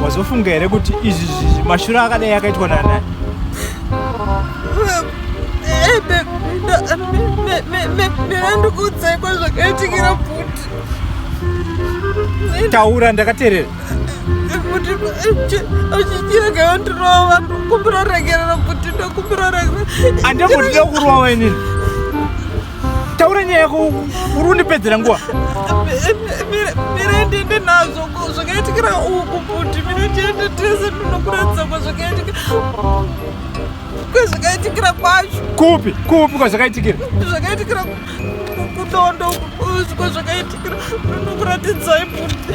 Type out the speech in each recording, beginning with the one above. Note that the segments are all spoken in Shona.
wazofunga here kuti izvi zvizi mashura akadai akaitwa nana ndandikuudzai kwazvakaitikira bhuti taura ndakaterera kuti achichira kayandirova kumbira regerera kuti ndakumbira regerera andambotida kurova wainini taura nyaya yako uri undipedzera nguva mirende ndi nazvo zvakaitikira uku kuti mirendende tese ndinokuratidza kwa zvakaitika kwezvakaitikira kwacho kupi kupi kwazvakaitikira zvakaitikira kudondo uko zvakaitikira nokuratidzai buti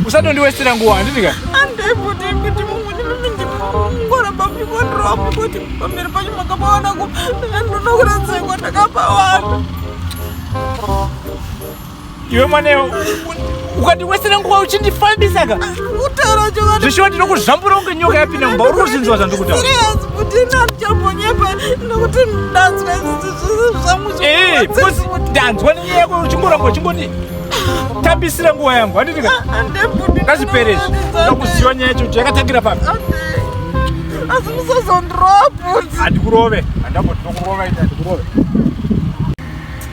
usatondiwestera nguva handiti ka andei buti kuti mumwene mimi ndikungora bamikondrowa mukoti pamberi panyu makapawana ku ndonokuratidzai kwandakapawana iwe mwana iwe ukandiwesera nguva uchindifambisa ka zvishiwa ndinokuzvambura kunge nyoka yapinda mumba uri kuzvinzwa zvandikutaura ndanzwa nenyaya yako uchingoramba uchingoti tambisira nguva yangu handitika ndazvipere izvi ndakuziva nyaya yacho kuti yakatangira papi asi musazondiroa bhudzi handikurove handamboti ndokurova ita handikurove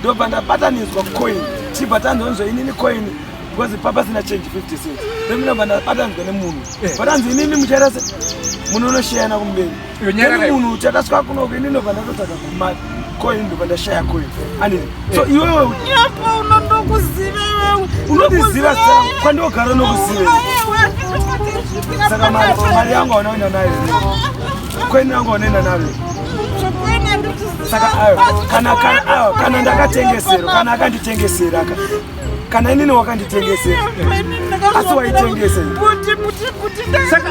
ndobva ndabatanidzwa coin chibva tanzonzwa inini coin because papa sina change 50 cent then ndobva ndabatanidzwa nemunhu eh. but anzi inini muchaita se munhu unoshayana kumberi then munhu uchataswa kunoko inini ndobva ndatotsvaga kumari coin ndobva ndashaya coin ani so eh. iwewe nyapa unondokuziva iwewe unondiziva sa kwandogara nokuziva saka mari yangu aunaenda nayo Kweni yangu wanaenda nayo. Saka ayo kana kana ayo kana ndakatengesera kana akanditengesera ka. Kana inini wakanditengesera. Asi waitengesa. Kuti kuti kuti saka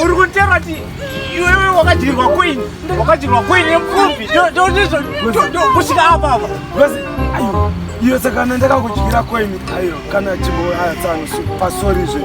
uri kutera kuti iwewe wakadyirwa kweni wakadyirwa kweni yemupfumbi ndo ndizvo kusvika apa apa. Ayo iyo saka ndakakudyira kweni ayo kana chimbo ayo tsangu pasori zve.